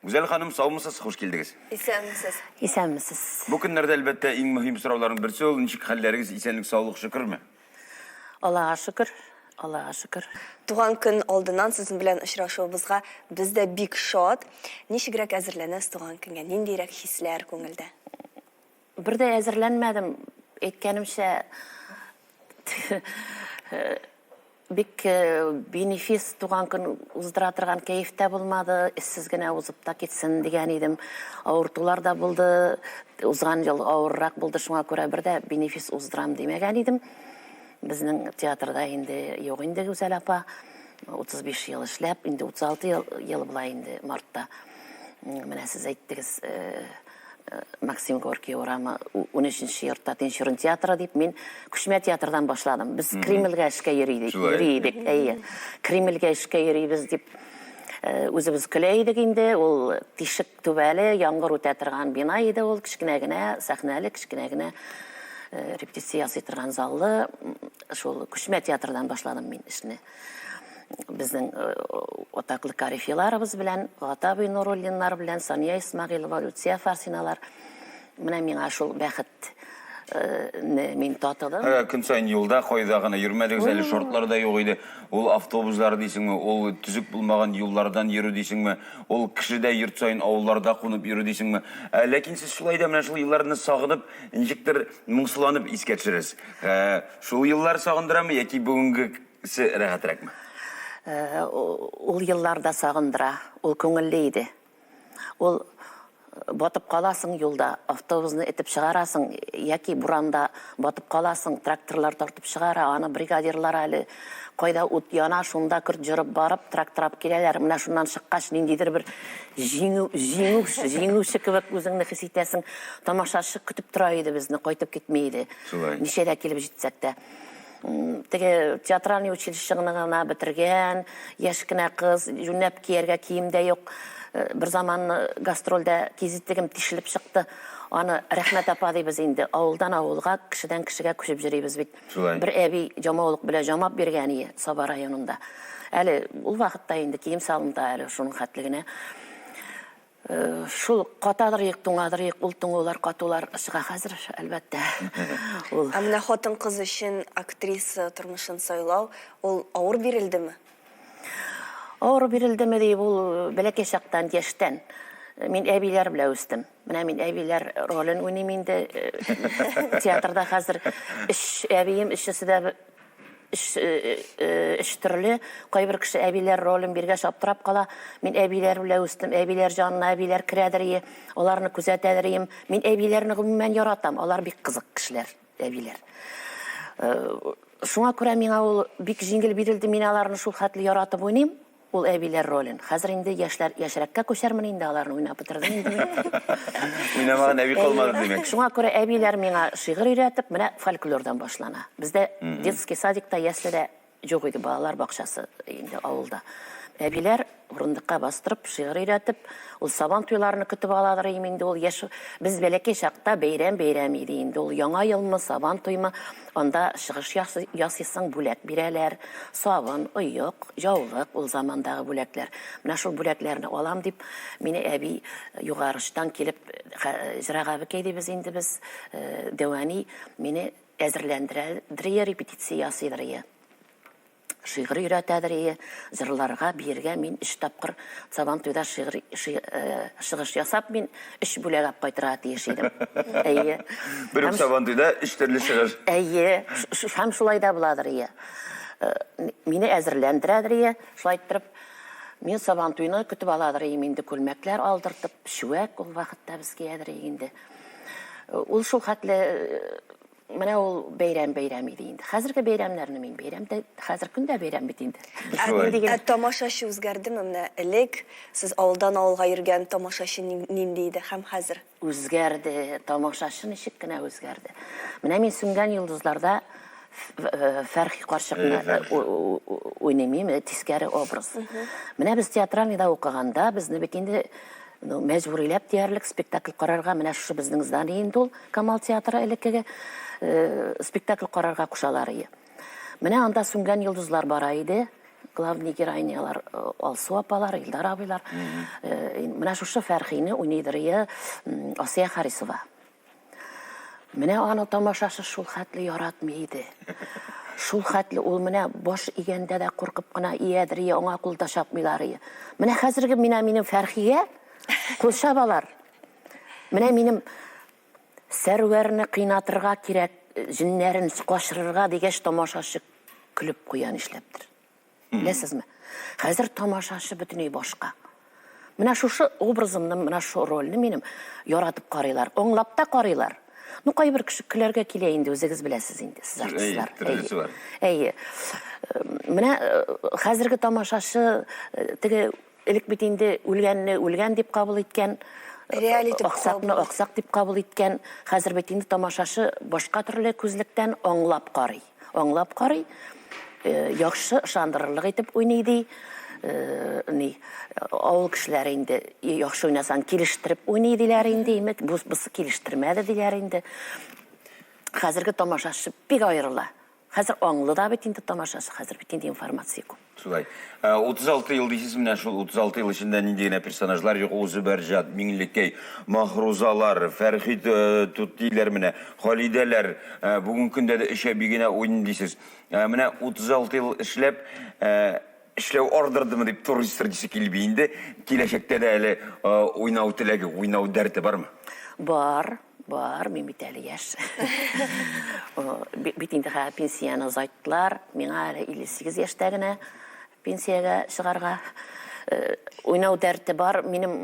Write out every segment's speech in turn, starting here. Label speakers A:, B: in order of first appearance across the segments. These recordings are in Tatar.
A: Гүзәл ханым, саумысыз, хуш килдегез. Исәнмесез.
B: Исәнмесез.
C: Бу көннәрдә, әлбәттә,
A: иң мөһим сорауларның берсе ул, ничек хәлләрегез, исәнлек, саулык, шөкерме? Аллага
C: шөкер, Аллага шөкер. Туган көн
B: алдыннан сезнең белән очрашуыбызга без дә бик шат. Ничегрәк әзерләнәсез туган көнгә? Ниндирәк хисләр күңелдә? Бер
C: дә әзерләнмәдем, әйткәнемчә, бик бенефис туган көн уздыра торган кәеф тә булмады, эзсез генә узып та китсен дигән идем. Авыртулар да булды, узган ел авыррак булды, шуңа күрә бер дә бенефис уздырам димәгән идем. Безнең театрда инде юк инде Гүзәл апа, 35 ел эшләп, инде 36 ел, ел була инде мартта. Менә сез әйттегез, Максим Горький урамы, унөченче йортта Тинчурин театры дип, мин күчмә театрдан башладым. Без Кремльгә эшкә йөри идек. Йөри идек, әйе. Кремльгә эшкә йөрибез дип үзебез көлә идек инде. Ул тишек түбәле, яңгыр үтә торган бина иде ул, кечкенә генә, сәхнәле, кечкенә генә репетиция ясый торган заллы. Шул күчмә театрдан башладым мин эшне. Безнең э, атаклы карифиларыбыз белән, Гатабый Нуруллиннар белән, Сания Исмагилова, Люция Фарсиналар. Менә миңа шул бәхет э, мин татыдым. Ә, көн сайын юлда
A: кайда гына йөрмәдегез әле шортлар да юк иде. Ул автобуслар дисеңме, ул төзек булмаган юллардан йөрү дисеңме, ул кешедә йорт сайын авылларда кунып йөрү дисеңме. Ә, ләкин сез шулай да менә шул елларны сагынып, ничектер Моңсуланып искә төшерәсез. Ә, Шул еллар сагындырамы яки бүгенгесе рәхәтрәкме? Ә, у-
C: Ул еллар да сагындыра. Ул күңелле иде. Ул э, батып каласың юлда, автобусны этеп чыгарасың, яки буранда батып каласың, тракторлар тартып чыгара, аны бригадирлар әле Кайда ут яна, шунда көрт җырып барып, трак-трап киләләр. Менә шуннан чыккач, ниндидер бер җиңү, җиңү, җиңүче кебек үзеңне хис итәсең. Тамашачы көтеп тора иде безне, кайтып китми иде. Шулай. Ничә дә килеп җитсәк тә. Теге театральный училищены гына бетергән, яшь кенә кыз, юнәп кияргә кием дә юк. Э, бер заман э, гастрольдә кизитегем тишелеп чыкты. Аны Рәхмәт апа дибез инде. Авылдан авылга, кешедән кешегә күчеп йөрибез бит. Шулай. Бер әби җамаулык белән җамап биргән ие Саба районында. Әле ул вакытта инде кием салымда әле шуның хәтле генә. Э, шул катадырыйк, туңадырыйк, ул туңулар, катулар чыга хәзер, әлбәттә. Ул. Ә
B: менә хатын-кыз өчен актриса тормышын сайлау, ул авыр бирелдеме?
C: Авыру бирелдеме дип, ул бәләкәй чактан, яшьтән. Мин әбиләр белән үстем. Менә мин әбиләр ролен уйныйм инде. Театрда хәзер өч әбием, өчесе дә өч, өч төрле. Кайбер кеше әбиләр ролен биргәч аптырап кала. Мин әбиләр белән үстем. Әбиләр җанына әбиләр керәдер, аларны күзәтәдер идем. Мин әбиләрне гомумән яратам, алар бик кызык кешеләр. Әбиләр. Шуңа күрә миңа ул бик җиңел бирелде, мин аларны шул хәтле яратып уйныйм, ул әбиләр ролен. Хәзер инде яшьләр, яшьрәккә күчәрмен инде, аларны уйнап бетердем инде мин. Уйнамаган
A: әби калмады, димәк. Шуңа күрә әбиләр
C: миңа шигырь өйрәтеп, менә фольклордан башлана. Бездә детский садикта, яследә Юк иде балалар бакчасы инде авылда. Әбиләр урындыкка бастырып, шигырь өйрәтеп, ул сабан туйларны көтеп алалар иде инде ул яшь. Без бәләкәй чакта бәйрәм бәйрәм иде инде ул. Яңа елмы, сабан туймы, анда чыгыш ясыйсың, бүләк бирәләр. Сабын, оек, җаулык, ул замандагы бүләкләр. Менә шул бүләкләрне алам дип, мине әби югарычтан килеп, Зирәк абыкәй дибез инде без, Дәвани мине Әзерләндерәдерие, репетиция ясыйдырие, шигырь өйрәтәдерие, җырларга, биергә мин өч тапкыр Сабантуйда шигырь чыгыш ясап, мин өч бүләк ап кайтырга тиеш идем. Әйе. Бер үк Сабантуйда
A: өч төрле чыгыш. Әйе.
C: Һәм шулай да буладырие. Мине әзерләндерәдерие, шулай иттереп, мин Сабантуйны көтеп аладырыем инде, күлмәкләр алдыртып, чүәк ул вакытта без киядерие инде. Ул шул хәтле менә ул бәйрәм бәйрәм иде инде. Хәзерге бәйрәмнәрне мин бәйрәм дә хәзер көн дә бәйрәм бит инде. Ә тамашачы
B: үзгәрдеме? Менә элек сез авылдан авылга йөргән тамашачы нинди иде һәм хәзер? Үзгәрде,
C: тамашачы ничек кенә үзгәрде. Менә мин Сүнгән йолдызларда Фәрхи карчыкны уйныйм, тискәре образ. Менә без театральныйда укыганда безне бит инде Ну, мәҗбүриләп диярлек спектакль карарга, менә шушы безнең здание инде ул, Камал театры элеккеге, э, спектакль карарга кушалар ие. Менә анда сүнгән йолдызлар бара иде, главный героинялар э, Алсу апалар, Илдар абыйлар. Э, Менә шушы Фәрхине уйныйдыр ие м, Асия Харисова. Менә аны тамашасы шул хәтле яратмый иде. Шул хәтле ул менә баш игәндә дә куркып кына иядер, я аңа кул да чапмыйлар. Менә хәзерге менә минем Фәрхигә кул чабалар. Менә минем Сәрвәрне кыйнатырга кирәк, җеннәрен качырырга дигәч тамашачы көлеп куя нишләптер. Беләсезме? Хәзер тамашачы бөтенләй башка. Менә шушы образымны, менә шу рольне минем яратып карыйлар, аңлап та карыйлар. Ну, кайбер кеше көләргә килә инде, үзегез беләсез инде, сез артистлар. Әйе, әйе. Менә э, хәзерге тамашачы э, теге Элек бит инде үлгәнне үлгән дип кабул иткән, Реаль итеп аксакны кабул. аксак дип кабул иткән. Хәзер бит инде тамашачы башка төрле күзлектән аңлап карый. Аңлап карый, э, яхшы ышандырырлык итеп уйный ди. Э, ни, авыл кешеләре инде «И, яхшы уйнасаң, килештереп уйный диләр инде, имек, бу- бусы килештермәде диләр инде. Хәзерге тамашачы бик аерыла. Хәзер аңлы да бит инде тамашачы, хәзер бит инде информация күп. Шулай.
A: 36 ел дисез менә шул 36 ел эчендә нинди генә персонажлар юк, ул Зөбәрҗат, Миңлекәй, Махрузалар, Фәрхит Туттиләр менә, Халидәләр, бүгенге көндә дә өчә бигенә уйный дисез. Менә 36 ел эшләп, эшләү ардырдымы дип туристр дисе килми инде. Киләчәктә дә әле уйнау теләге, уйнау дәрте бармы? Бар.
C: Бар, мин бит әле яшь. Бит инде хәзер пенсияне озайттылар. Миңа әле 58 яшьтә генә пенсиягә чыгарга. Э, уйнау дәрте бар. Минем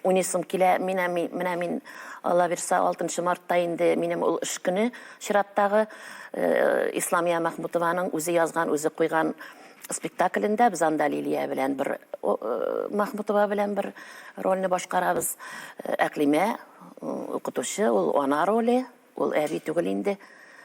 C: уйныйсым килә. Менә мин, менә мин Алла бирсә 6 мартта инде минем ул эш көне чираттагы э, Исламия Мәхмүтованың үзе язган, үзе куйган спектаклендә без анда Лилия белән бер Махмутова белән бер рольне башкарабыз. Әклимә укытучы, ул ана роле, ул әби түгел инде.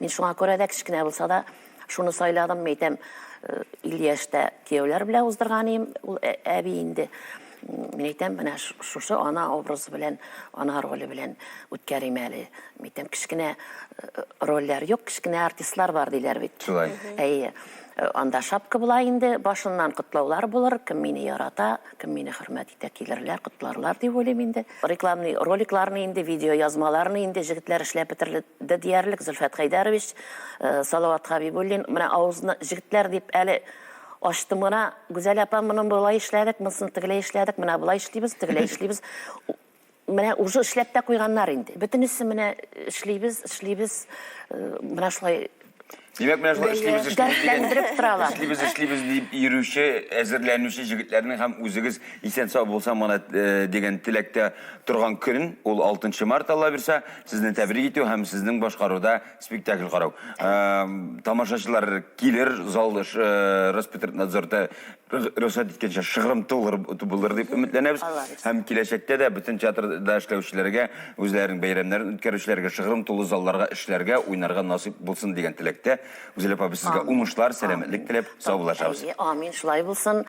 C: Мин шуңа күрә дә кечкенә булса да шуны сайладым, әйтәм, илле яшьтә кияүләр белән уздырган идем, ул әби инде. Мин әйтәм, менә шушы ана образы белән, ана роле белән үткәрим әле. Мин әйтәм, кечкенә э, рольләр юк, кечкенә артистлар бар диләр бит. Шулай. Әйе.
A: Э,
C: анда шапка була инде, башыннан котлаулар булыр, кем мине ярата, кем мине хөрмәт итә, килерләр, котларлар дип уйлыйм инде. Рекламный роликларны инде, видео язмаларны инде җегетләр эшләп бетерде диярлек, Зөлфәт Хәйдәрович, э, Салават Хабибуллин, менә авызны җегетләр дип әле Ачтым гына, Гүзәл апа, моны болай эшләдек, монысын тегеләй эшләдек, менә болай эшлибез, тегеләй эшлибез. Менә уже эшләп тә куйганнар инде. Бөтенесе менә эшлибез, эшлибез, э, менә шулай Димәк, менә шулай
A: эшлибез, эшлибез дигән- Дәртләндереп торалар. Эшлибез, эшлибез дип йөрүче, әзерләнүче җегетләрнең һәм үзегез исән-сау булсаң гына э, дигән теләктә торган көн, ул 6 март, Алла бирса, сезне тәбрик итү һәм сезнең башкаруда спектакль карау. Ә, тамашачылар килер, зал э, Роспотребнадзорда рөхсәт иткәнчә шыгрымты булыр дип өметләнәбез. Һәм киләчәктә дә бөтен театрда эшләүчеләргә, үзләренең бәйрәмнәрен үткәрүчеләргә, шыгрым тулы залларга эшләргә, уйнарга насыйп булсын дигән теләктә. Гүзәл апа,
C: без
A: сезгә уңышлар, сәламәтлек
C: теләп,
A: саубуллашабыз. Амин, шулай булсын.